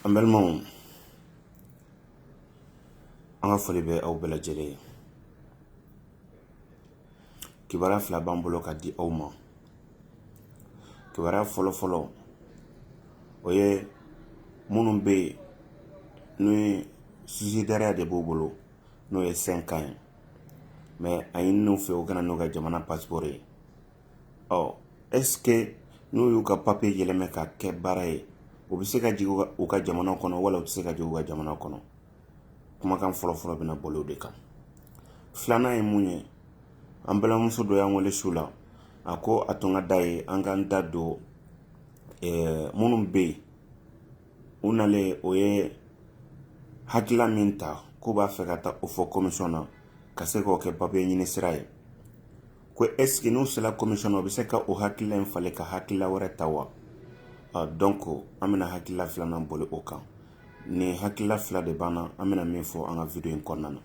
An balimaw an ka foli bɛ aw bɛɛ lajɛlen ye kibaruya fila b'an bolo ka di aw ma kibaruya fɔlɔ fɔlɔ o ye minnu bɛ yen n'o ye susidariya de b'u bolo n'o ye sɛnkan ye mɛ a ɲinin'u fɛ u ka na n'u ka jamana pasiporo ye ɔ ɛske n'u y'u ka papiye yɛlɛmɛ ka kɛ baara ye u bɛ se ka jigin u ka jamana kɔnɔ wala u tɛ se ka jigin u ka jamana kɔnɔ kumakan fɔlɔfɔlɔ bɛna boli o de kan filanan ye mun ye an balimamuso dɔ y'an wele su la a ko a tun ka d'a ye an k'an da don eh, minnu bɛ yen u nalen o ye hakilila min ta k'u b'a fɛ ka taa o fɔ komisɔn na ka se k'o kɛ papiye ɲini sira ye ko ɛske n'u sera komisɔn na u bɛ se ka o hakilila in falen ka hakilila wɛrɛ ta wa dɔnku an bɛna hakilila filanan boli o kan nin hakilila fila de b'an na an bɛna min fɔ an ka wideyo in kɔnɔna na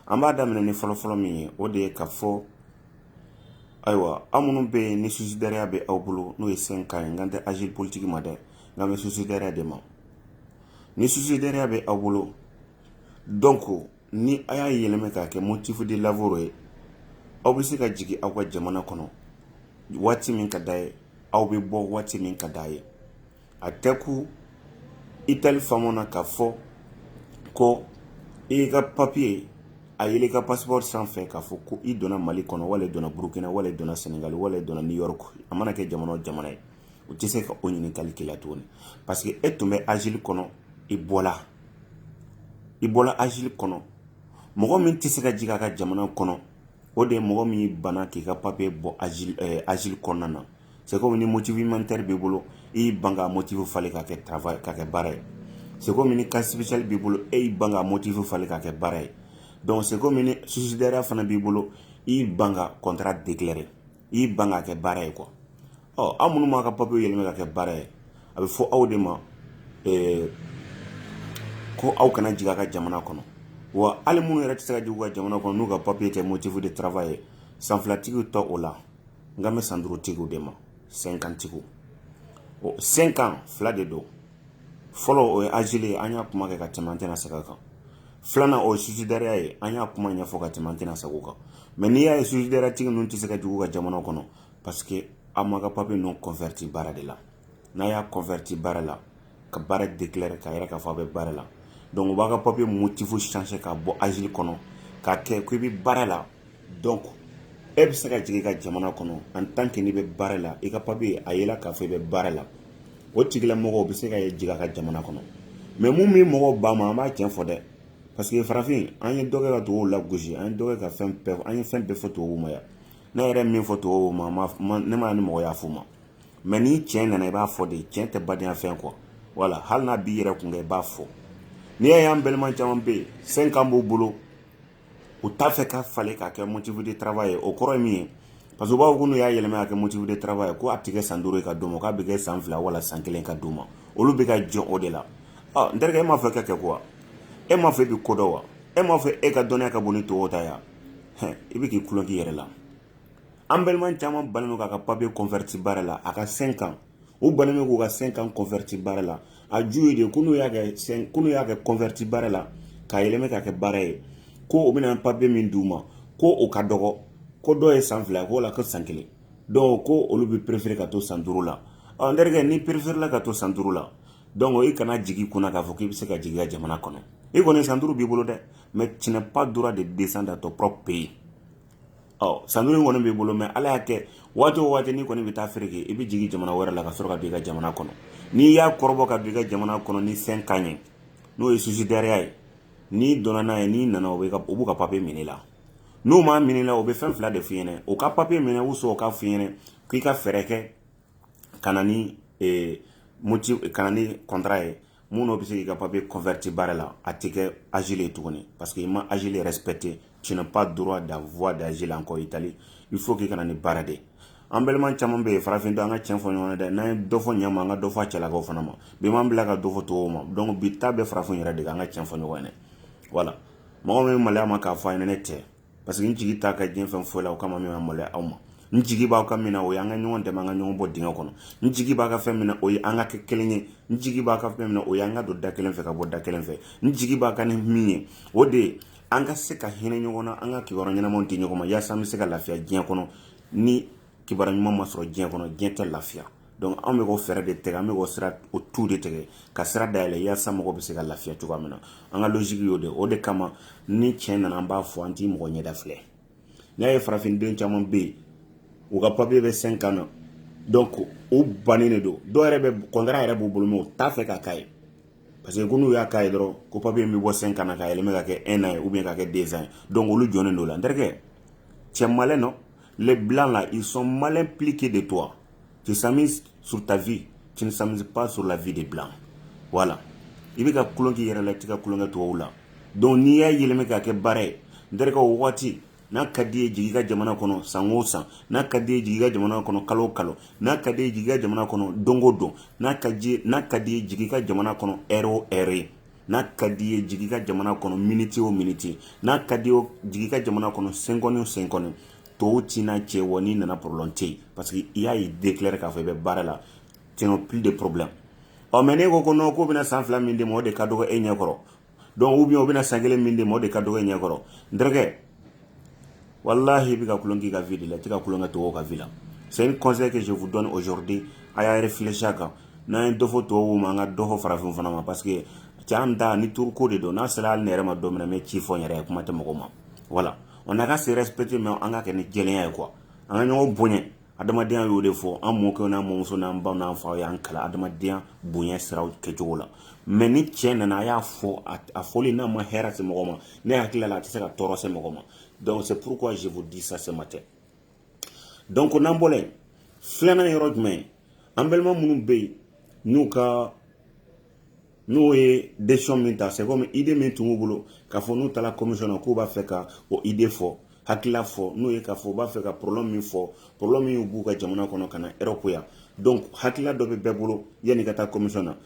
an b'a daminɛ ni fɔlɔfɔlɔ min ye o de ye ka fɔ ayiwa aw minnu bɛ yen ni susidariya bɛ aw bolo n'o ye sɛnkan ye n kan tɛ azili politiki ma dɛ n kan bɛ susidariya de ma ni susidariya bɛ aw bolo dɔnku ni a y'a yɛlɛma k'a kɛ motifu di lavoro ye aw bɛ se ka jigin aw ka jamana kɔnɔ waati min ka d'a ye aw bɛ bɔ waati min ka d'a ye a tɛ ko Itali fana ka fɔ ko i ka papiye a ye i ka pasiporo sanfɛ k'a fɔ ko i donna mali kɔnɔ wala i donna burukina wala i donna sɛnɛgali wala i donna nin yɔrɔ a mana kɛ jamana o jamana ye u tɛ se ka o ɲininkakali kɛ tuguni parce que e tun bɛ azili kɔnɔ i bɔla i bɔra azili kɔnɔ mɔgɔ min tɛ se ka jigin a ka jamana kɔnɔ o de ye mɔgɔ min banna k'i ka papiye bɔ azili kɔnɔna na se kɔmi ni motifu umanitari b'i bolo i y'i ban ka motifu falen ka kɛ tarawele ka kɛ baara ye se kɔmi ni kasi sipesiyali b'i bolo i y'i ban ka motifu falen ka kɛ baara ye dɔnku se kɔmi ni susidariya fana b'i bolo i y'i ban ka kɔntra deklare i ban ka kɛ baara ye kuwa ɔ aw minnu m'a ka papiye yɛlɛma ka kɛ baara ye a bɛ fɔ aw de ma ko aw kana jigin ka jamana kɔnɔ wa hali minnu yɛrɛ tɛ se ka jigin u ka jamana kɔnɔ n'u ka papiye tɛ motifu de taraweleraba ye san filatigiw t'o la n kan bɛ san duurutigiw de ma sɛnkantigiw sɛnkan fila de don fɔlɔ o ye azili ye an y'a kuma kɛ ka tɛmɛ an tɛna segin a kan filanan o ye susidariya ye an y'a kuma ɲɛfɔ ka tɛmɛ an tɛna segin o kan mɛ n'i y'a ye susidariyatigi ninnu tɛ se ka jigin u ka jamana kɔnɔ parce que aw m'a ka papiye ninnu kɔnfɛriti baara de la n'a y'a kɔnfɛriti baara la ka baara deklare k'a yira k'a fɔ a bɛ baara la dɔnku b'a ka papiye motifu sanse ka bɔ asile kɔnɔ ka kɛ ko i bɛ baara la dɔnku e bɛ se ka jigin ka jamana kɔnɔ en tant que i bɛ baara la i ka papiye y'a yira k'a fɔ i bɛ baara la o tigilamɔgɔw bɛ se ka ye jigin u ka jamana kɔnɔ mɛ minnu bɛ mɔgɔw ba ma an b'a cɛn fɔ dɛ paseke farafin an ye dɔ kɛ ka tubabuw lagosi an ye dɔ kɛ ka fɛn bɛɛ an ye fɛn bɛɛ fɔ tubabu ma yan ne yɛrɛ min fɔ tubabu ma ma ne ma ni mɔgɔ y'a fɔ ma mɛ ni cɛn nana i b'a fɔ de cɛn tɛ badenya cɛn kɔ wala hali n'a b'i yɛrɛ kun i b'a fɔ n'i y'a y'an balima caman bɛ yen cinq ans b'u bolo u t'a fɛ k'a falen k'a kɛ motif de travail ye o kɔrɔ ye mun ye parce que b'a ko n'u y'a yɛlɛma k'a kɛ motif de travail ye ko a tɛ kɛ san duuru ka d'u ma k'a bɛ kɛ san fila wala san kelen ka d'u ma olu bɛ ka jɔrɔ o de la n terikɛ e m'a fɔ i ka kegun wa e m'a fɔ i bɛ ko dɔn wa e m'a fɔ e ka dɔnniya ka bon ni tɔw ta ye i bɛ ka tulon k'i yɛrɛ la an balima caman bannen don k'a ka papiye kɔnfɛriti baara la a ka cinq ans u bannen bɛ k'u ka cinq ans kɔnfɛriti baara la a ju ye de ko n'u y'a kɛ sɛn ko n'u y'a kɛ kɔnfɛriti baara la k'a yɛlɛma k'a kɛ baara ye ko o bɛna papiye min d'u ma ko o ka dɔgɔ ko dɔw ye san fila k'o la ko san kelen dɔw ko olu bɛ perefere ka to san duuru la ɔ n terikɛ n'i pereferela ka to san duuru la dɔnku i kana jigin kunna k'a fɔ k'i bɛ se ka jigin i ka jamana kɔnɔ i kɔni san duuru b'i bolo dɛ mɛ tu n'as pas droit de descendre dans ton propre pays ɔ san duuru kɔni b'i bolo mɛ ala y'a kɛ waati waati ni kɔni bɛ taa feere kɛ i bɛ jigin jamana wɛrɛ la ka sɔrɔ ka don i ka jamana kɔnɔ n'i y'a kɔrɔbɔ ka don i ka jamana kɔnɔ ni cinq ans ye n'o ye susidariya ye n'i donna n'a ye n'i nana o b'i ka papiye minɛ i la n'u m'a minɛ i la o bɛ fɛn fila de f'i ɲɛna o ka papiye minɛ u sɔrɔ k'a f'i ɲɛna k'i ka fɛɛrɛ kɛ ka na ni eh, moti ka na ni kɔntara ye min n'o bɛ se k'i ka papiye kɔnfɛriti baara la a tɛ kɛ asile ye tuguni parce que i ma asile respecte tu n'as pas droit d'avoir d'asile encore itali il faut k'i ka na ni baara de an balima caman bɛ yen farafin don an ka tiɲɛ fɔ ɲɔgɔn ye dɛ n'an ye dɔ fɔ ɲɛma an ka dɔ fɔ a cɛlakaw fana ma bi m'an bila ka dɔ fɔ tubabuw ma donc bi ta bɛ farafin yɛrɛ de kan an ka tiɲɛ fɔ ɲɔgɔn ye dɛ voilà mɔgɔ min bɛ maloya a ma k'a fɔ a ɲɛna ne tɛ parce que n jigi t'a ka diɲɛ fɛn foyi la o kama min ma maloya aw ma n jigi b'aw ka min na o ye an ka ɲɔgɔn dɛmɛ an ka ɲɔgɔn bɔ dingɛ kɔnɔ n jigi b'a ka fɛn min na o ye an ka kɛ kelen ye n jigi b'a ka fɛn min na o ye an ka don da kelen fɛ ka bɔ da kelen fɛ n jigi b'a ka ni min ye o de ye an ka se ka hinɛ ɲɔgɔn na an ka kibaruya ɲɛnamaw di ɲɔgɔn ma yaasa an bɛ se ka lafiya diɲɛ kɔnɔ ni kibaruya ɲuman ma sɔrɔ diɲɛ kɔnɔ diɲɛ tɛ lafiya donc anw bɛ k'o fɛɛrɛ de tigɛ an bɛ k'o sira o tu de tigɛ ka sira dayɛlɛ yaasa mɔgɔ bɛ se ka lafiya cogoya min na an ka logique y'o de o de kama ni tiɲɛ nana an b'a fɔ an t'i mɔgɔ ɲɛda filɛ n'i y'a ye farafinden caman bɛ yen u ka papiye bɛ cinq ans na donc u bannen de don dɔw yɛrɛ bɛ contrat yɛrɛ b'u bolo mais u t'a fɛ ka k'a ye parce que ko n'u y'a k'a ye dɔrɔn ko papiye min bɛ bɔ cinq ans na ka yɛlɛma k'a kɛ un an ye ou bien k'a kɛ deux ans ye donc olu jɔnnen don o la n terikɛ c'est malheureux Les blancs là, ils sont mal impliqués de toi. Tu s'amuses sur ta vie, tu ne s'amuses pas sur la vie des blancs. Voilà. I bɛ ka tulon k'i yɛrɛ la, i tɛ ka tulon kɛ tubabu la. Donc n'i y'a yɛlɛma k'a kɛ baara ye, n terikɛ o waati n'a ka d'i ye jigin i ka jamana kɔnɔ san o san n'a ka d'i ye jigin i ka jamana kɔnɔ kalo o kalo n'a ka d'i ye jigin i ka jamana kɔnɔ don o don n'a ka di n'a ka d'i ye jigin i ka jamana kɔnɔ ɛri o ɛri n'a ka d'i ye jigin i ka jamana kɔnɔ miniti o miniti n'a ka di jigin i ka jamana kɔnɔ senkɔni senkɔni tɔw tiina cɛ wa n'i nana problème tɛ yen parce que i y'i déclarer k'a fɔ i bɛ baara la tu n'as plus de problème ɔ mais n'i ko ko non k'u bɛna san fila min d'i ma o de ka dɔgɔ e ɲɛkɔrɔ donc u bɛ u bɛna san kelen min d'i ma o de ka dɔgɔ e ɲɛkɔrɔ n walahi i bɛ ka tulon k'i ka vie de la i tɛ ka tulon kɛ tɔw ka vie la c'est un conseil que je vous donne aujourd'hui a ye réfléchir a kan n'an ye dɔ fɔ tɔw ma an ka dɔ fɔ farafin fana ma parce que cɛ an da ni turuko de don n'a sera hali ne yɛrɛ ma don min na n bɛ tiɲɛ fɔ n yɛrɛ ye kuma tɛ mɔgɔ ma voilà on n'a qu'à se respecter mais an k'a kɛ ni jɛlenya ye quoi an ka ɲɔgɔn bonya adamadenya y'o de fɔ an mɔkɛw n'an mɔmusow n'an baw n'an faw y'an kalan adamadenya bonya siraw kɛcogo la mais ni tiɲɛ nana a y'a fɔ a fɔli n'a ma hɛrɛ se mɔgɔ ma ne hakili la a tɛ se ka tɔɔrɔ se mɔgɔ ma donc c'est pourquoi je vous dis ça ce matin donc n'an bɔla yen filanan yɔrɔ jumɛn an balima minnu bɛ yen n'u ka n'u ye décision min ta c'est comme idée min tun b'u bolo k'a fɔ n'u taara kɔmisɔn na k'u b'a fɛ ka o idée fɔ hakilila fɔ n'o ye k'a fɔ u b'a fɛ ka problème min fɔ problème min b'u ka jamana kɔnɔ ka na Erɔpu yan donc hakilila dɔ bɛ bɛɛ bolo yanni ka taa kɔmisɔn na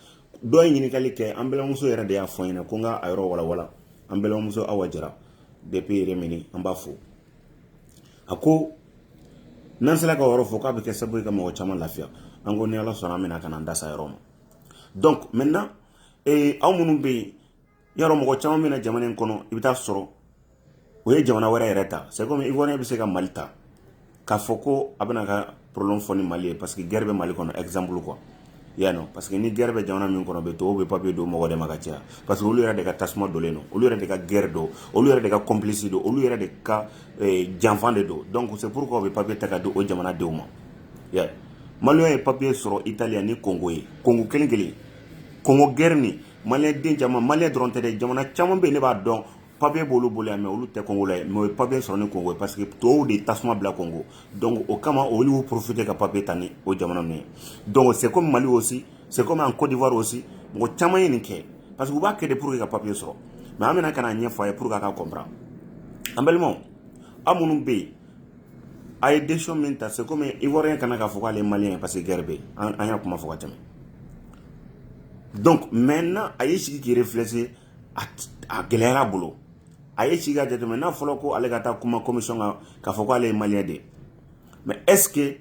dɔ ye ɲininkali kɛ an balimamuso yɛrɛ de y'a fɔ n ɲɛna ko n ka a yɔrɔ walawala an balimamuso awa jara bɛɛ yɛrɛ minɛ an b'a fɔ a ko n'an sera ka yɔrɔ fɔ k'a bɛ kɛ sababu ka mɔgɔ caman lafiya an ko ni ala sɔnna an bɛna ka na an da s'a yɔrɔ ma donc maintenant ee aw minnu bɛ yen yɔrɔ mɔgɔ caman bɛ na jamana in kɔnɔ i bɛ taa sɔrɔ o ye jamana wɛrɛ yɛrɛ ta c'est comme ivoirien bɛ se ka mali ta k'a fɔ ko a bɛna ka problème fɔ ni mali ye parce que guerre bɛ mali kɔnɔ exemple quoi y'a nɔ parce que ni guerre bɛ jamana min kɔnɔ bɛ to u bɛ papier d'o mɔgɔ de ma ka caya parce que olu yɛrɛ de ka tasuma donlen don olu yɛrɛ de ka guerre don olu yɛrɛ de ka complice don olu yɛrɛ de ka janfa de don donc c'est pourquoi u bɛ papier ta k'a di o jamana denw ma ya maliyɛn ye papiye sɔrɔ italiya ni kongo ye kongo kɛlɛ kɛlen kongo gɛrɛ ni maliden caman maliyɛn dɔrɔn tɛ dɛ jamana caman bɛ ne b'a dɔn papiye b'olu bolo yan mɛ olu tɛ congolais ye mɛ o ye papiye sɔrɔ ni kongo ye parce que tɔw de tasuma bila kongo donc o kama olu y'u profite ka papiye ta ni o jamana ninnu ye donc c'est comme mali aussi c'est comme en cote d'ivoire aussi mɔgɔ caman ye nin kɛ parce que u b'a kɛ de pour que ka papiye sɔrɔ mɛ an bɛna ka na ɲɛfɔ a ye pour que a ka comprendre an balimaw aw minnu bɛ yen a ye décision min ta c'est comme ivoirien ka na k'a fɔ k'ale maliyɛn ye parce que gɛrɛ bɛ an y'a kuma fɔ ka tɛmɛ donc maintenant a ye sigi k'i réfléchir a gɛlɛyara bolo a ye sigi ka jateminɛ n'a fɔra ko ale ka taa kuma commission kan k'a fɔ k'ale ye maliyɛn de ye mais est ce que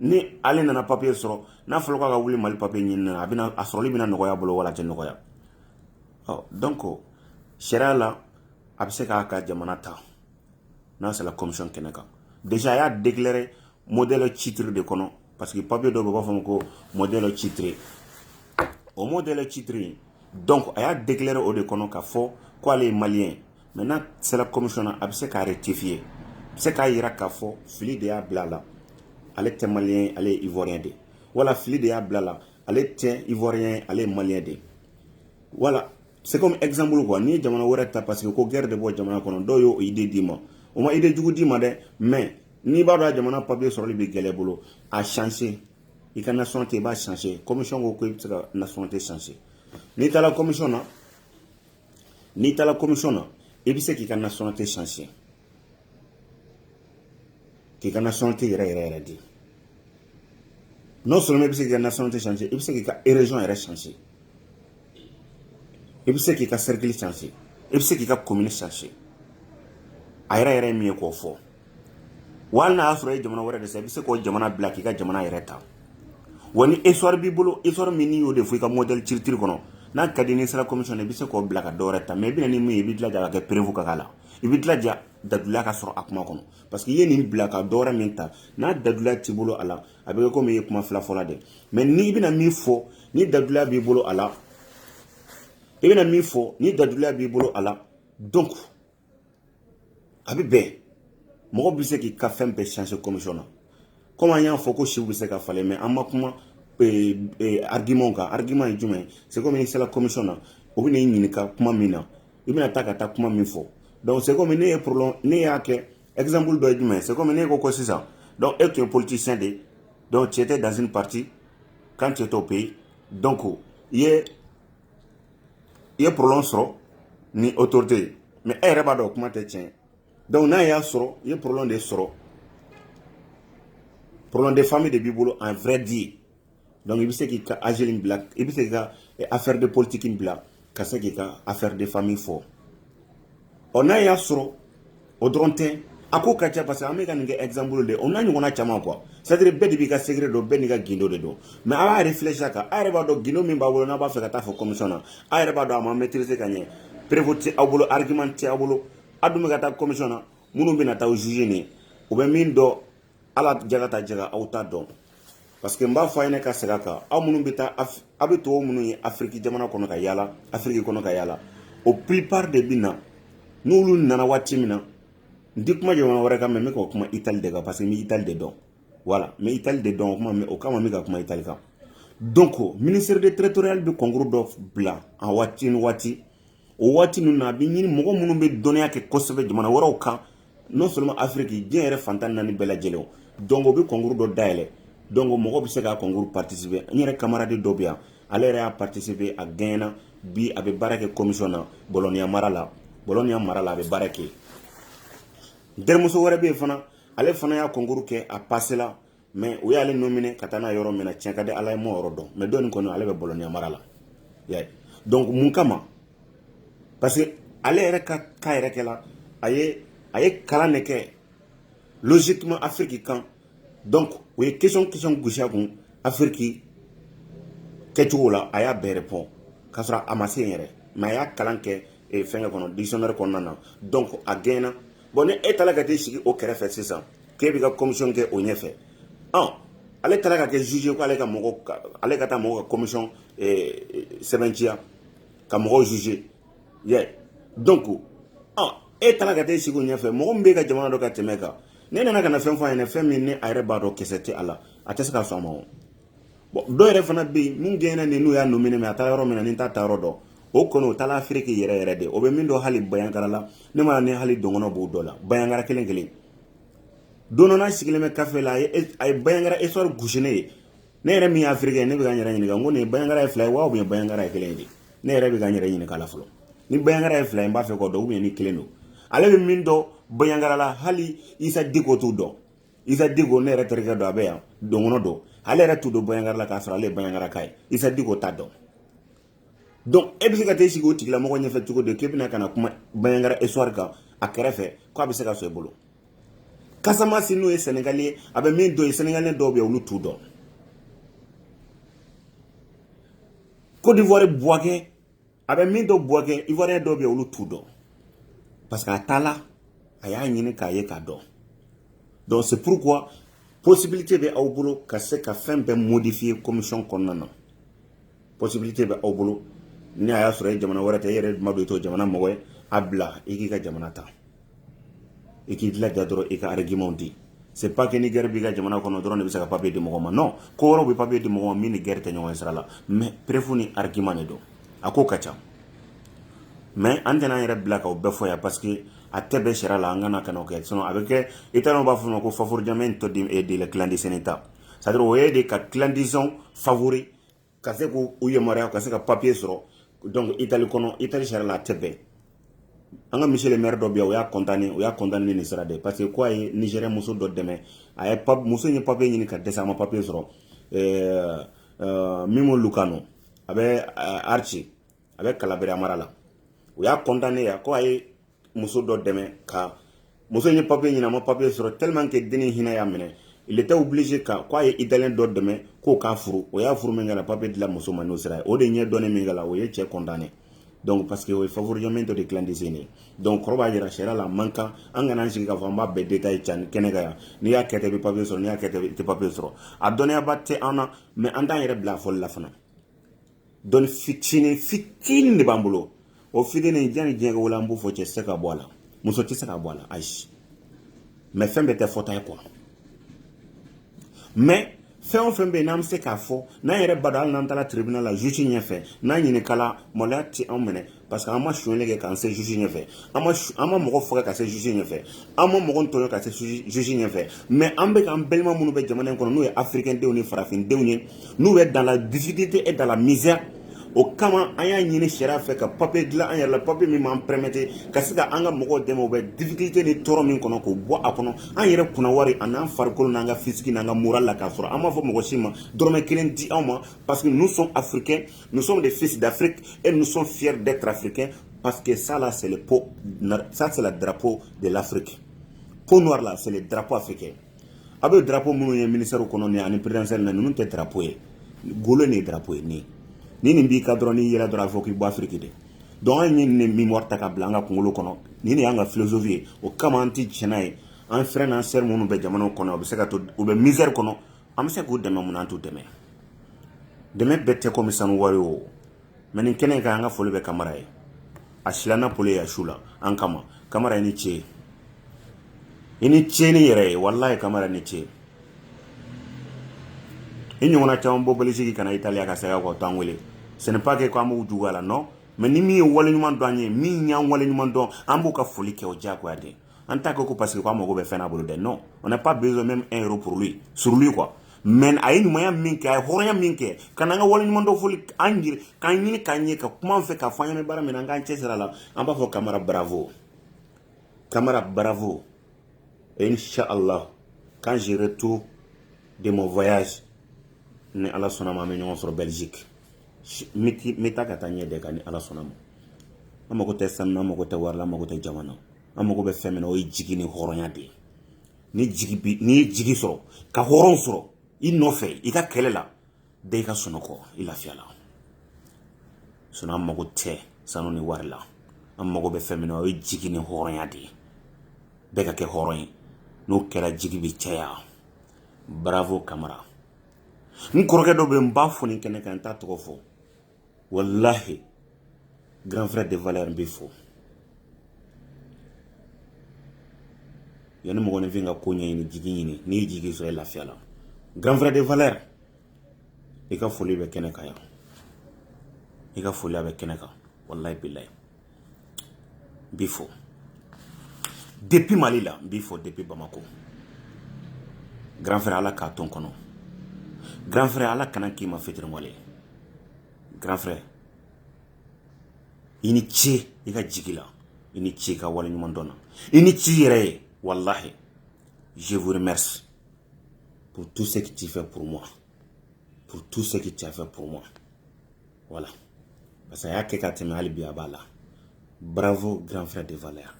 ni ale nana papiye sɔrɔ n'a fɔra k'a ka wuli mali papiye ɲini na a bɛna a sɔrɔli bɛna nɔgɔya bolo wala a tɛ nɔgɔya ɔ donc sariya la a bɛ se k'a ka jamana ta n'a sera commission kɛnɛ kan déjà a y'a déclarer modèle C3 de kɔnɔ parce que papier dɔ bɛ b'a fɔ ma ko modèle C3 o modèle C3 in donc a y'a déclarer o de kɔnɔ k'a fɔ ko ale ye maliyɛn mɛ n'a sera commission na a bɛ se k'a rectifier a bɛ se k'a jira k'a fɔ fili de y'a bila a la ale tɛ maliyɛn ye ale ye ivoirien de ye wala fili de y'a bila a la ale tɛ ivoirien ye ale ye maliyɛn de ye wala c'est comme exemple quoi n'i ye jamana wɛrɛ ta parce que ko guerre de b'o jamana kɔnɔ dɔw y'o idée d'i ma o ma idée jugu d'i ma dɛ mais n'i b'a dɔn a jamana papier sɔrɔli bɛ gɛlɛya bolo a changer i ka nationalité i b'a changer commission ko ko i bɛ se ka nationalité changer n'i taara commission na n'i taara commission na i bɛ se k'i ka nationalité changer k'i ka nationalité yɛrɛ yɛrɛ yɛrɛ di non seulement i bɛ se k'i ka nationalité changer i bɛ se k'i ka région yɛrɛ changer i bɛ se k'i ka cercle changer i bɛ se k'i ka commune changer a yɛrɛ yɛrɛ ye min ye k'o fɔ wa hali n'a y'a sɔrɔ i ye jamana wɛrɛ de ta i bɛ se k'o jamana bila k'i ka jamana yɛrɛ ta wa ni histoire b'i bolo histoire min n'i y'o de fɔ i ka modèle C3 kɔnɔ n'a ka di n'i sera commission i bɛ se k'o bila ka dɔ wɛrɛ ta mɛ i bɛna ni min ye i b'i jilaja ka kɛ preuve ka k'a la i b'i jilaja daliluya ka sɔrɔ a kuma kɔnɔ parce que i ye nin bila ka dɔwɛrɛ min ta n'a daliluya t'i bolo a la a bɛ komi i ye kuma fila fɔla de mɛ n'i bɛna min fɔ ni daliluya b'i bolo a la i bɛna min fɔ ni daliluya b'i bolo a la donc a bɛ bɛn mɔgɔ bɛ se k'i ka fɛn bɛɛ changer commission na komi an y'a fɔ ko siw bɛ se ka falen mɛ an ma kuma eh, eh, argument kan argument ye jumɛn ye c'est comme n'i sera commission na u bɛn'i ɲininka kuma min na i bɛna taa ka taa kuma min fɔ donc c'est comme ne ye problème ne y'a kɛ exemple dɔ ye jumɛn c'est comme ne ko ko sisan donc e tun ye politicien de donc tu étais dans un parti quand tu étais au pays donc i ye i ye problème sɔrɔ ni autorité ye mais e yɛrɛ b'a dɔn kuma tɛ tiɲɛ ye donc n'a y'a sɔrɔ i ye problème de sɔrɔ problème de famille de b'i bolo en vrai dit Donc i bɛ se k'i ka asile bila i bɛ se k'i ka eh, affaire de politique bila ka se k'i ka affaire de famille fɔ ɔ n'a y'a sɔrɔ o dɔrɔn tɛ a ko ka ca parce que an bɛ ka nin kɛ exemple de o n'a ɲɔgɔnna caman quoi c'est à dire bɛɛ de b'i ka secret dɔn bɛɛ n'i ka gindo de dɔn mais a b'a réfléchir a kan a yɛrɛ b'a dɔn gindo min b'a bolo n'a b'a fɛ ka taa fɔ commission na a yɛrɛ b'a dɔn a ma maîtriser ka ɲɛ preuve tɛ aw bolo argument tɛ aw bolo a dun bɛ ka taa commission na minnu bɛna taa aw juger nin u bɛ min dɔn ala jɛra ta jɛra aw t'a dɔn parce que n b'a fɔ a ye ne ka sira kan aw minnu bɛ taa aw bɛ tubabu minnu ye afiriki jamana kɔnɔ ka yaala afiriki kɔnɔ ka yaala o plupart de bɛ na n'olu nana waati min na n tɛ kuma jamana wɛrɛ kan mais n bɛ ka kuma itali de kan parce que n bɛ itali de dɔn voilà n bɛ itali de dɔn o kuma o kama n bɛ ka kuma itali kan donc ministère de territorial bɛ concours dɔ bila a waati ni waati o waati ninnu na a bɛ ɲini mɔgɔ minnu bɛ dɔnniya kɛ kosɛbɛ jamana wɛrɛw kan non seulement afiriki diɲɛ yɛrɛ fan tan ni naani bɛɛ lajɛlen donc o bɛ concours dɔ dayɛlɛ donc mɔgɔ bɛ se k'a concours participer n yɛrɛ kamaradi dɔ bɛ yan ale yɛrɛ y'a participer a gaɲɛna bi a bɛ baara kɛ commission na Bologna mara la Bologna mara la a bɛ baara kɛ n terimuso wɛrɛ bɛ yen fana ale fana y'a concours kɛ a pasela mais o y'ale nominer ka taa n'a yɔrɔ min na tiɲɛ ka di ala ye n ma yɔrɔ dɔn mais dɔ nin kɔni ale bɛ Bologna mara la donc mun kama parce que ale yɛrɛ ka carrière kɛ la a ye a ye kalan de kɛ logiquement afiriki kan donc o ye question question gosi a kun afiriki kɛcogo la a y'a bɛɛ répondre k'a sɔrɔ a ma se yɛrɛ mais a y'a kalan kɛ eh, fɛngɛ kɔnɔ dictionnaire kɔnɔna na donc a gaɲɛna bon ni e taara ka t'i sigi o kɛrɛfɛ sisan k'e bɛ ka commission kɛ o ɲɛfɛ ɔ ale taara ka kɛ juge ye ko ale ka mɔgɔ ale ka taa mɔgɔ ka commission sɛbɛntiya ka mɔgɔw juger yɛ donc ɔ e taara ka taa e sigi o ɲɛfɛ mɔgɔ min b'e ka jamana dɔn ka tɛmɛ e kan n'e nana ka na fɛn fɔ a ɲɛna fɛn min ni a yɛrɛ b'a dɔn kisɛ tɛ a la a tɛ se ka sɔn a ma o Bon dɔw yɛrɛ fana bɛ yen min gaɲɛna nin n'u y'a nominer a taa yɔrɔ min ne t'a taa yɔrɔ dɔn o kɔnɔ o taa afiriki yɛrɛ yɛrɛ de o bɛ min dɔn hali banjagara la ne ma ni hali dɔn b'o dɔ la banjagara kelen kelen don sigilen bɛ kafe la a ye banjagara esɔri gosisiinɛ ye ne yɛrɛ min y'a feere kɛ ne bɛ ka yɛrɛ ɲini ko nin banjagara ye fila ye wa ye banjagara ye kelen ye ne yɛrɛ bɛ ka yɛrɛ ɲini k' fɔlɔ ni banjagara ye fila in b'a fɛ kɔ dɔw ye ni kelen don ale bɛ min dɔn banjagara la hali isa diko t'o dɔn isa diko ne yɛrɛ terikɛ dɔ a bɛ yan dɔgɔnɔ don ale yɛrɛ t'u dɔn banjagara la k'a sɔrɔ ale ye banjagaraka ye isa diko t'a dɔn donc e bɛ se ka t'e sigi o tigilamɔgɔ ɲɛfɛ cogo di k'e bɛna ka na kuma banjagara histoire kan a kɛrɛfɛ ko a bɛ se ka sɔn i bolo kasamasi n'o ye sɛnɛgali ye a bɛ min dɔn yen sɛnɛgali dɔw bɛ yen olu t'u dɔn kodivuwari buwakɛ a bɛ min dɔn buwakɛ ivoirien dɔw bɛ yen olu t'u dɔn parce que a taala a y'a ɲini k'a ye k'a dɔn donc c'est pourquoi possibilité bɛ aw bolo ka se ka fɛn bɛɛ modifier commission kɔnɔna na possibilité bɛ aw bolo ni a y'a sɔrɔ e jamana wɛrɛ tɛ e yɛrɛ ma don i to jamana mɔgɔ ye a bila i k'i ka jamana ta i k'i dilanja dɔrɔn i ka argumentw di c'est pas que ni gɛrɛ b'i ka jamana kɔnɔ dɔrɔn de bɛ se ka papiye di mɔgɔ ma non ko wɛrɛ bɛ papiye di mɔgɔ ma min ni gɛrɛ tɛ ɲɔgɔn sira la mais preuve ni argument de don a ko ka ca mais an tɛna an yɛrɛ bila k'a bɛɛ fɔ yan parce que a tɛ bɛɛ sira la an kana ka kɛ sinon a bɛ kɛ i taara u b'a fɔ a ma ko favoreggiamento della clandestinità c'est-à-dire o ye de ka clandestin favori ka se k' u yamaruya ka se ka papiye sɔrɔ donc itali kɔnɔ itali sariya la a tɛ bɛn an ka misali maire dɔ bi o y'a condamné o y'a condamné nin sira de parce que k'a ye nizɛri muso dɔ dɛmɛ a ye muso ye papiye ɲini ka dɛsɛ a ma papiye sɔrɔ mimmo lucano a bɛ riace a bɛ kalabira mara la o y'a condamné yan k' a ye muso dɔ dɛmɛ ka muso in ye papiye ɲini a ma papiye sɔrɔ tellement que denni hinɛ y'a minɛ il était obligé ka k'a ye italien dɔ dɛmɛ k'o k'a furu o y'a furu min kɛ la papiye dila muso ma n'o sira ye o de ɲɛ dɔnnen min kɛ la o ye cɛ condamné donc parce que o ye favoreggiamento de clandestin de ye donc o kɔrɔ b'a jira sariya la a man kan an kana an sigi k'a fɔ an b'a bɛɛ détail can kɛnɛ kan yan n'i y'a kɛ ten i bɛ papiye sɔrɔ n'i y'a kɛ ten i tɛ papiye sɔrɔ a dɔnniyaba tɛ an na mais an t'an yɛrɛ bila a fɔli la fana dɔnni fitinin fitinin de b'an bolo o fitinin jani diɲɛ wala an b'o fɔ cɛ tɛ se ka bɔ a la muso tɛ se ka bɔ a la ayi mais fɛn bɛɛ tɛ fɔta ye quoi mais fɛn o fɛn bɛ yen n'an bɛ se k'a fɔ n'an yɛrɛ b'a dɔn hali n'an taara tribunal la juge ɲɛfɛ n'an ɲininkala maloya tɛ anw minɛ parce que an ma sonyali kɛ ka se juge ɲɛfɛ an ma an ma mɔgɔ faga ka se juge ɲɛfɛ an ma mɔgɔ tɔɲɔ ka se juge ɲɛfɛ mais an bɛ k'an balima minnu bɛ jamana in kɔnɔ n'o ye africain denw ni farafin denw ye n'u bɛ dans la difficulté et dans la misère o kama an y'a ɲini sariya fɛ ka papier dilan an yɛrɛ la papier min b'an permettre ka se ka an ka mɔgɔw dɛmɛ u bɛ difficulté ni tɔɔrɔ min kɔnɔ k'o bɔ a kɔnɔ an yɛrɛ kunna wari an'an farikolo n'an ka physique n'an ka moral la k'a sɔrɔ an m'a fɔ mɔgɔ si ma dɔrɔmɛ kelen di anw ma parce que nous sommes africains Nous sommes des fils d'Afrique et nous sommes fiers d'être africains parce que sa la sala dabo de l'Afrique ko n la seli dabu fɛ kɛ a bɛ dabu minnu ye misiri kɔnɔ ani perez na ninnu tɛ dabu ye golo ni dabu ye nin ni nin b'i ka dɔrɔn ni yɛrɛ dɔrɔn a fɔ k'i ba fiki de dɔn ye nin min ta ka bila an ka kunkolo kɔnɔ ni y'an ka filosofi ye o kama an tɛ tiɲɛna ye an fɛn n'an seri minnu bɛ jamana kɔnɔ u bɛ se ka to u bɛ misiri kɔnɔ an bɛ se k'u dɛmɛ munna an t'u dɛmɛ dɛmɛ bɛɛ tɛ komi sanu wari o mais nin kɛnɛ kan an ka foli bɛ kamara ye a silanna polo ye a su la an kama kamara i ni ce ye i ni ce i yɛrɛ ye walayi kamara i ni ce i ɲɔgɔnna caman bɔ belisigi ka na italiya ka segin kɔ t'an wele ce n'est pas que ko an b'u juguya la non mais ni min ye waleɲuman dɔn an ye min y'an waleɲuman dɔn an b'u ka foli kɛ o diyagoya de an t'a kɛ ko parce que k'an mago bɛ fɛn na a bolo dɛ non on n'a pas besoin même un euro pour lui sur lui quoi mais a ye ɲumanya min kɛ a ye hɔrɔnya min kɛ ka n'an ka waleɲuman dɔn foli an yɛrɛ k'an ɲini k'an ye ka kuma an fɛ k'a fɔ an ɲɛna baara min na an k'an cɛsiri a la an b'a fɔ kamara bravo kamara bravo et inchallah quand je retourne de mon voyage ni ala sɔnna ma an bɛ ɲɔgɔn sɔrɔ belgique n bɛ taa ka taa ɲɛ dɛ ka ni ala sɔnna ma an mago tɛ sanu na an mago tɛ wari la an mago tɛ jaman na an mago bɛ fɛn min na o ye jigi ni hɔrɔnya de ye ni jigi bi n'i ye jigi sɔrɔ ka hɔrɔn sɔrɔ i nɔfɛ i ka kɛlɛ la bɛɛ i ka sunɔgɔ i lafiya la sinon an mago tɛ sanu ni wari la an mago bɛ fɛn min na o ye jigi ni hɔrɔnya de ye bɛɛ ka kɛ hɔrɔn ye n'o kɛra jigi bɛ caya bravo kamara n kɔrɔkɛ dɔ bɛ n b'a fo nin kɛnɛ kan n t'a tɔgɔ fɔ wallahi grand frère de valeur n b'i fo yanni mɔgɔninfin ka ko ɲɛɲini jigi ɲini n'i ye jigi sɔrɔ i lafiya la grand frère de valeur i ka foli bɛ kɛnɛ kan yan i ka foli a bɛ kɛnɛ kan wallahi bilayi n b'i fo depuis mali la n b'i fo depuis bamako grand frère ala k'a to n kɔnɔ grand frère ala kana n k'i ma fitiriwale ye grand frère i ni ce i ka jigi la i ni ce i ka waleɲuman dɔn na i ni ce i yɛrɛ ye walahi je vous remercie pour tout ce que tu fais pour moi pour tout ce que tu as fait pour moi voilà parce que a y'a kɛ ka tɛmɛ hali bi a b'a la bravo grand frère de valeur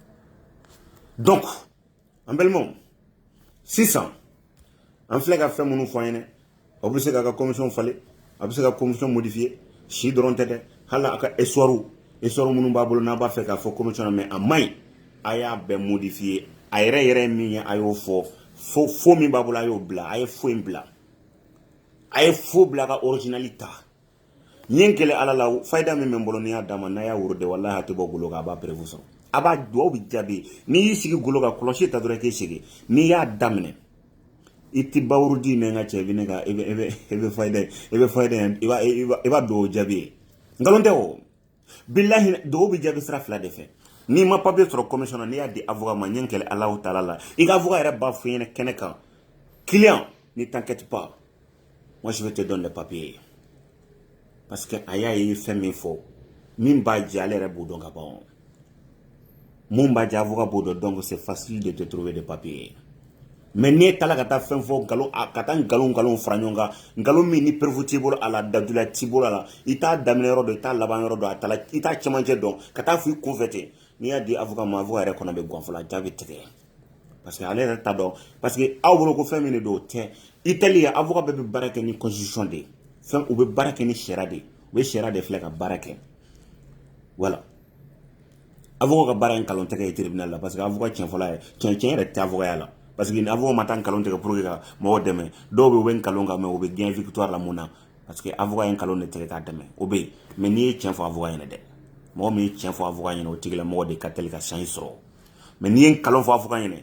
donc an balimaw sisan an filɛ ka fɛn minnu fɔ aw ye dɛ aw bɛ se k'a ka commission falen a bɛ se ka commission modifier o dɔrɔn tɛ dɛ hali a ka histoirew histoire minnu b'a bolo n'a b'a fɛ k'a fɔ commission na mais a man ɲi a y'a bɛɛ modifier a yɛrɛ yɛrɛ ye min ye a y'o fɔ faux faux min b'a bolo a y'o bila a ye faux in bila a ye faux bila ka originali ta n ye n kali ala la fayida min bɛ n bolo n'i y'a d'a ma n'a y'a wurudi walahi a tɛ bɔ golo kan a b'a preuve sɔrɔ a b'a duwaw bɛ jaabi n'i y'i sigi golo kan kɔlɔsi ta dɔrɔn k'i sigi n'i y'a daminɛ i tɛ b'a wurudi mais n ka cɛ i bɛ ne ka i bɛ fayida i bɛ fayida i b'a duwawu jaabi ye nkalon tɛ o bilahi duwaw bɛ jaabi sira fila de fɛ n'i ma papier sɔrɔ commission na n'i y'a di avocat ma n ye n kali alahu taala la i ka avocat yɛrɛ b'a fɔ i ɲɛna kɛnɛ kan client ne t'inquiète pas moi je vais te donner le papier parce que a y'a ye fɛn min fɔ min b'a jɛ ale yɛrɛ b'o dɔn ka ban mun b'a jɛ avocat b'o dɔn donc c'est facile de te trouver de papier mais n'e taara ka taa fɛn fɔ nkalon ka taa nkalon nkalon fara ɲɔgɔn kan nkalon min ni preuve t'i bolo a la dalilu t'i bolo a la i t'a daminɛ yɔrɔ dɔn i t'a laban yɔrɔ dɔn a tala i t'a cɛmancɛ dɔn ka taa fɔ i kunfɛ ten n'i y'a di avocat ma avocat yɛrɛ kɔnɔ bɛ gan fo a jigi bɛ tigɛ parce que ale yɛrɛ t'a dɔn parce que aw bolo ko fɛn min de don o tɛ itali avocat bɛɛ bɛ baara kɛ ni constitution de ye fɛn u bɛ baara kɛ ni sariya de ye u bɛ sariya de filɛ ka baara kɛ voilà avocat ka baara ye nkalon tigɛ ye tribunal la parce que avocat cɛn fɔlɔ ye cɛn tiɲɛ yɛrɛ tɛ fɔya la parce que avocat ma taa nkalon tigɛ pour ka mɔgɔw dɛmɛ dɔw bɛ bɛ nkalon kan mais o bɛ gagner voilà mun na parce que avocat ye nkalon de tigɛ k'a dɛmɛ o bɛ yen mais n'i ye cɛn fɔ avocat ɲɛna dɛ mɔgɔ min ye cɛn fɔ avocat ɲɛna o tigilamɔgɔ de ka teli ka chance sɔrɔ mais n'i ye nkalon fɔ avocat ɲɛna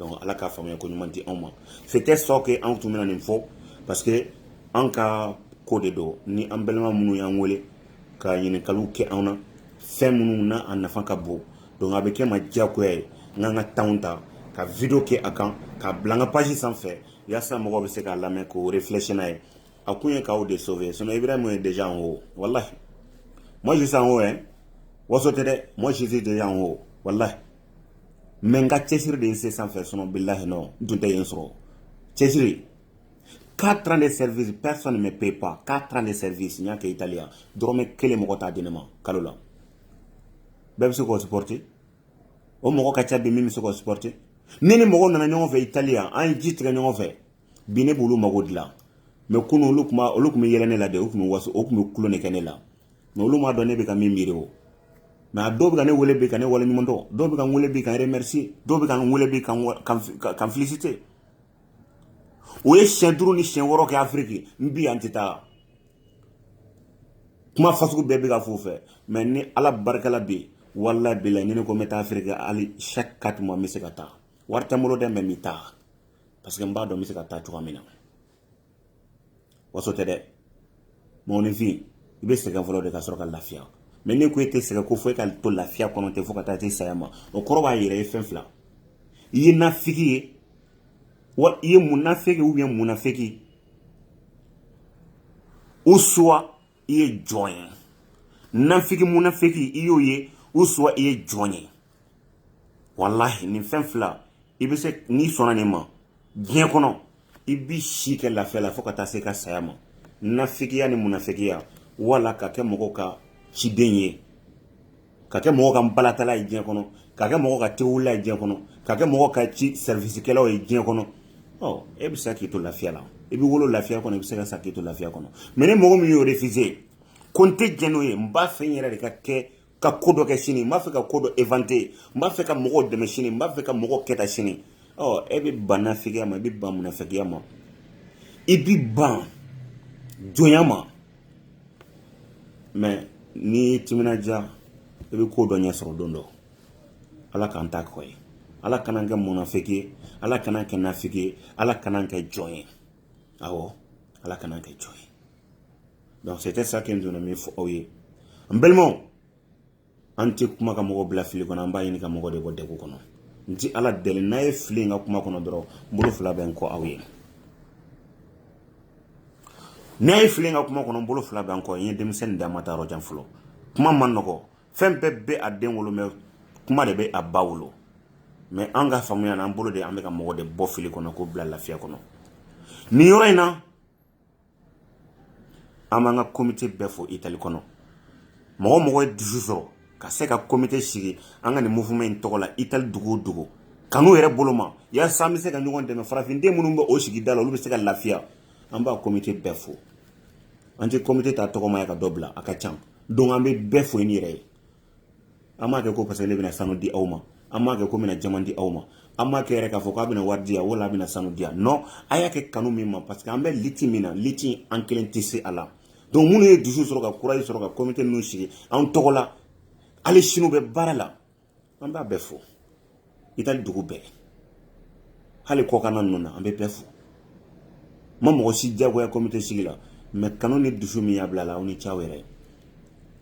donc ala ka faamuya ko ɲuman di anw ma c'était ce que anw tun bɛna nin fɔ parce que an ka ko de don ni an balima minnu y'an wele ka ɲininkaliw kɛ anw na fɛn minnu na a nafa ka bon donc a bɛ kɛ ma diyagoya ye an kan ka temps ta ka video kɛ a kan k'a bila an ka page sanfɛ yaasa mɔgɔw bɛ se k'a lamɛn k'o réfléchir n'a ye a kun ye k'aw de sauver sinon ibrahima est déjà en haut wallahi moi je suis en haut hein waso tɛ dɛ moi je suis déjà en haut wallahi mais n ka cɛsiri de ye n se sanfɛ sinon bilahi ne tun tɛ yen sɔrɔ cɛsiri quatre ans de service personne ne me paye pas quatre ans de service n y'a kɛ italiya dɔrɔmɛ kelen mɔgɔ t'a di ne ma kalo la bɛɛ bɛ se k'o supporter o mɔgɔ ka ca bi min bɛ se k'o supporter ne ni mɔgɔw nana ɲɔgɔn fɛ italiya an ye ji tigɛ ɲɔgɔn fɛ bi ne b'olu mago dilan mais kunu olu tun olu tun bɛ yɛlɛ ne la dɛ u tun bɛ waso u tun bɛ kulo de kɛ ne la mais olu m'a dɔn ne bɛ ka min miiri o mais a dɔw bɛ ka ne wele bi ka ne wale ɲuman dɔn dɔw bɛ ka n wele bi ka n remercier dɔw bɛ ka n wele bi ka n féliciter u ye siɲɛ duuru ni siɲɛ wɔɔrɔ kɛ afiriki n bɛ yan n tɛ taa kuma fasugu bɛɛ bɛ ka f'u fɛ mais ni ala barika la bɛ yen walahi bilahi ni ne ko n bɛ taa afiriki hali chaque quatre mois n bɛ se ka taa wari tɛ n bolo dɛ mais n bɛ taa parce que n b'a dɔn n bɛ se ka taa cogoya min na waso tɛ dɛ mɔgɔninfin i bɛ sɛgɛn fɔlɔ de ka sɔrɔ ka lafiya mɛ n'e ko e tɛ sɛgɛn ko fo e ka to lafiya kɔnɔ ten fo ka taa se saya ma o kɔrɔ b'a yira i ye fɛn fila i ye nafiki ye wa i ye munafiki u ye munafiki ou soit i ye jɔn ye nafiki munafiki i y'o ye ou soit i ye jɔn ye walahi nin fɛn fila i bɛ se n'i sɔnna nin ma diɲɛ kɔnɔ i b'i si kɛ lafiya la fo ka taa se i ka saya ma nafigiya ni munafigiya wala ka kɛ mɔgɔ ka ciden ye ka kɛ mɔgɔ ka balatala ye diɲɛ kɔnɔ ka kɛ mɔgɔ ka tewulila ye diɲɛ kɔnɔ ka kɛ mɔgɔ ka ci sɛriwisikɛlaw ye diɲɛ kɔnɔ ɔ e bɛ se k'i to lafiya la i bɛ wolo lafiya kɔnɔ i bɛ se ka sa k'i to lafiya kɔnɔ mɛ ni mɔgɔ min y'o refise ko n tɛ jɛn n'o ye n b'a fɛ n yɛrɛ de ka kɛ ka ko dɔ kɛ sini n b'a fɛ ka ko dɔ inventer n b'a fɛ ka mɔgɔw dɛmɛ sini n b'a fɛ ka mɔgɔw kɛta sini ɔ e bɛ ban nafigiya ma i bɛ ban munafigiya ma i bɛ ban jɔnya ma mɛ n'i y'i timinandiya i bɛ ko dɔ ɲɛ sɔrɔ don dɔ ala k'an ta k'o ye ala kan'an kɛ munafiki ye ala kan'an kɛ nafiki ye ala kan'an kɛ jɔn ye awɔ ala kan'an kɛ jɔn ye donc c'était ça que n tun na min fɔ aw ye n balimaw an tɛ kuma ka mɔgɔ bila fili kɔnɔ an b'a ɲini ka mɔgɔ de bɔ degun kɔnɔ n ti ala deli n'a ye fili ye n ka kuma kɔnɔ dɔrɔn n bolo fila bɛ n kɔ aw ye n'a ye fili ye n ka kuma kɔnɔ n bolo fila bɛ n kɔ n ye denmisɛnnin da ma taa yɔrɔ jan fɔlɔ kuma man nɔgɔ fɛn bɛɛ bɛ a den wolo mɛ kuma de bɛ a ba wolo mɛ an ka faamuya na an bolo de an bɛ ka mɔgɔ de bɔ fili kɔnɔ k'o bila lafiya kɔnɔ nin yɔrɔ in na an b'an ka komite bɛɛ fo itali kɔnɔ mɔgɔ o mɔgɔ ye dusu sɔrɔ ka se ka komite sigi an ka nin mouvement in tɔgɔ la itali dugu o dugu kanu yɛrɛ bolo ma yasa an bɛ se ka ɲɔgɔn dɛmɛ farafinden minnu bɛ o sigida la olu bɛ se ka lafiya an b'a komite bɛɛ fo an tɛ komite ta tɔgɔ ma yan ka dɔ bila a ka can donc an bɛ bɛɛ fo ni yɛrɛ ye an m'a kɛ ko parce que ne bɛna sanu di aw ma an m'a kɛ ko n bɛna jaman di aw ma an m'a kɛ yɛrɛ k'a fɔ k'a bɛna wari di yan wala a bɛna sanu di yan non a y'a kɛ kanu min ma parce que an bɛ liti min na liti an kelen tɛ se a la donc minnu ye dusu sɔrɔ ka courage sɔrɔ ka komite ninnu sigi anw tɔgɔ la hali sini u bɛ baara la an b'a bɛɛ fo itali dugu bɛɛ hali kɔkana ninnu na an bɛ bɛɛ fo an ma mɔgɔ si diyagoya komite sigi la mɛ kanu ni dusu min y'a bila la aw ni ce aw yɛrɛ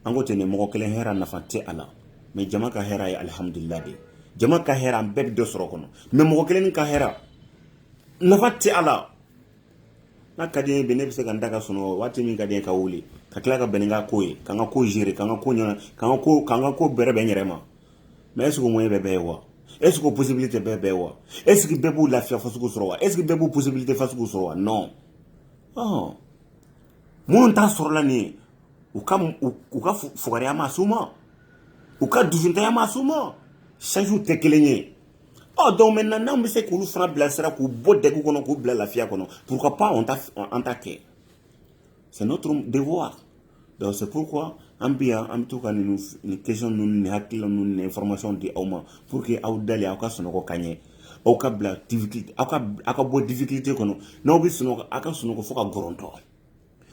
an ko ten ne mɔgɔ kelen hɛra nafa tɛ a la mɛ jama ka hɛra ye alihamudulila de ye jama ka hɛra an bɛɛ bɛ dɔ sɔrɔ kɔnɔ mɛ mɔgɔ kelen ka hɛra nafa tɛ a la n'a ka di n ye bi ne bɛ se ka n da ka sunɔgɔ waati min ka di n ye ka wuli ka tila ka bɛn ni n ka ko ye ka n ka ko gérer ka n ka ko ɲɛnabɔ ka n ka ko ka n ka ko bɛrɛbɛn n yɛrɛ ma mɛ ɛseke o moyen bɛ bɛɛ ye wa ɛseke o posibilite bɛ bɛɛ ye wa ɛseke bɛɛ b'o lafiya fasugu sɔrɔ wa ɛseke bɛɛ b'o posibilite fasugu sɔrɔ wa non ɔn minnu t'a sɔrɔla nin ye u ka u ka fugariya m'a s'u ma u ka dusuntanya m'a s'u ma sansiw tɛ kelen ye ɔ donc maintenant n'anw bɛ se k'olu fana bilasira k'u bɔ dɛgun kɔnɔ k'u bila lafiya kɔnɔ pourquoi pas an t'a an t'a kɛ c'est notre devoir Donc c'est pourquoi an bɛ yan an bɛ to ka nin nin question ninnu nin hakilila ninnu nin information di aw ma pour que aw dalen aw ka sunɔgɔ ka ɲɛ aw ka bila difficulté aw ka aw ka bɔ difficulté kɔnɔ n'aw bɛ sunɔgɔ aw ka sunɔgɔ fo ka gɔrɔntɔ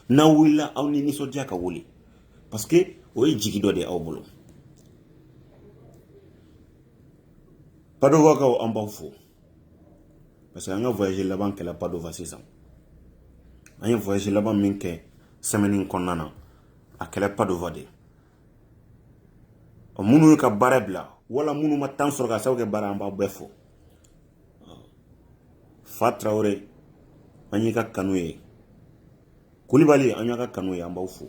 n'aw wulila aw ni nisɔndiya ka wuli parce que o ye jigi dɔ de ye aw bolo Padovakaw an b'aw fo parce que an ka voyage laban kɛla padova sisan an ye voyage laban min kɛ sɛmɛni kɔnɔna na a kɛra padova de ye minnu y'u ka baara bila wala minnu ma tan sɔrɔ k'a sababu kɛ baara an b'aw bɛɛ fo fa tarawele an y'i ka kanu ye kulibali an y'a ka kanu ye an b'aw fo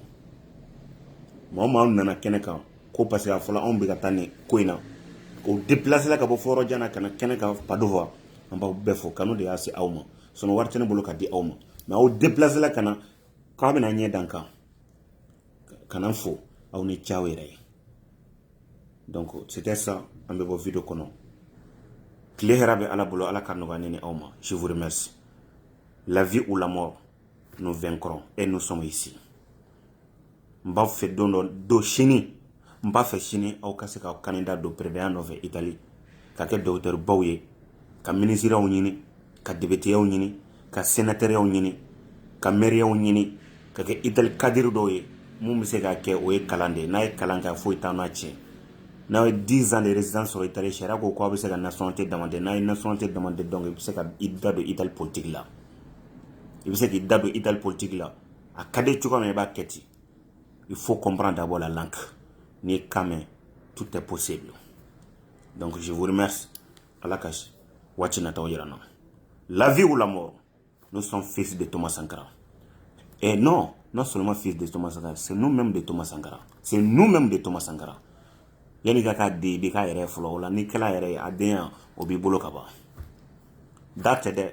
maa maa nana kɛnɛ kan ko parce que a fɔlɔ anw bɛ ka taa nin ko in na u depilasela ka bɔ fo yɔrɔ jan na ka na kɛnɛ kan padova an b'aw bɛɛ fo kanu de y'a se aw ma sinon wari tɛ ne bolo ka di aw ma mɛ aw depilasela ka na k'aw bɛna ɲɛ da n kan ka na fo aw ni ce aw yɛrɛ ye donc c'était ça an bɛ bɔ video kɔnɔ tile hɛrɛ bɛ ala bolo ala ka nɔgɔya ne ni aw ma je vous remercie la vie ou la mort nous vaincrons et nous sommes ici n b'a fɛ don dɔ don sini n b'a fɛ sini aw ka se ka kandida don pereya nɔfɛ itali ka kɛ dɔgɔtɔrɔbaw ye ka minisiriyaw ɲini ka depiteyaw ɲini ka senatɛriyaw ɲini ka mɛriyaw ɲini ka kɛ itali kadiri dɔw ye minnu bɛ se ka kɛ o ye kalan de ye n'a ye kalan kɛ foyi tɛn'a tiɲɛ n'a ye dix ans de résidence sɔrɔ itali sariya ko ko aw bɛ se ka nationalité demande n'a ye nationalité demande donc i bɛ se ka i da don itali politique la i bɛ se k'i da don itali politiki la a ka di cogoya min i b'a kɛ ten il faut comprendre d'abord la langue n'i ye kan mɛn tout est possible donc je vous remercie ala ka waati nataw jira an na la vie ou la mort nous sommes fils de Thomas Sankara et non non seulement fils de Thomas Sankara c'est nous-mêmes de Thomas Sankara c'est nous-mêmes de Thomas Sankara yanni i ka k'a den i bɛ k'a yɛrɛ ye fɔlɔ o la n'i kɛla a yɛrɛ ye a den o b'i bolo ka ban da tɛ dɛ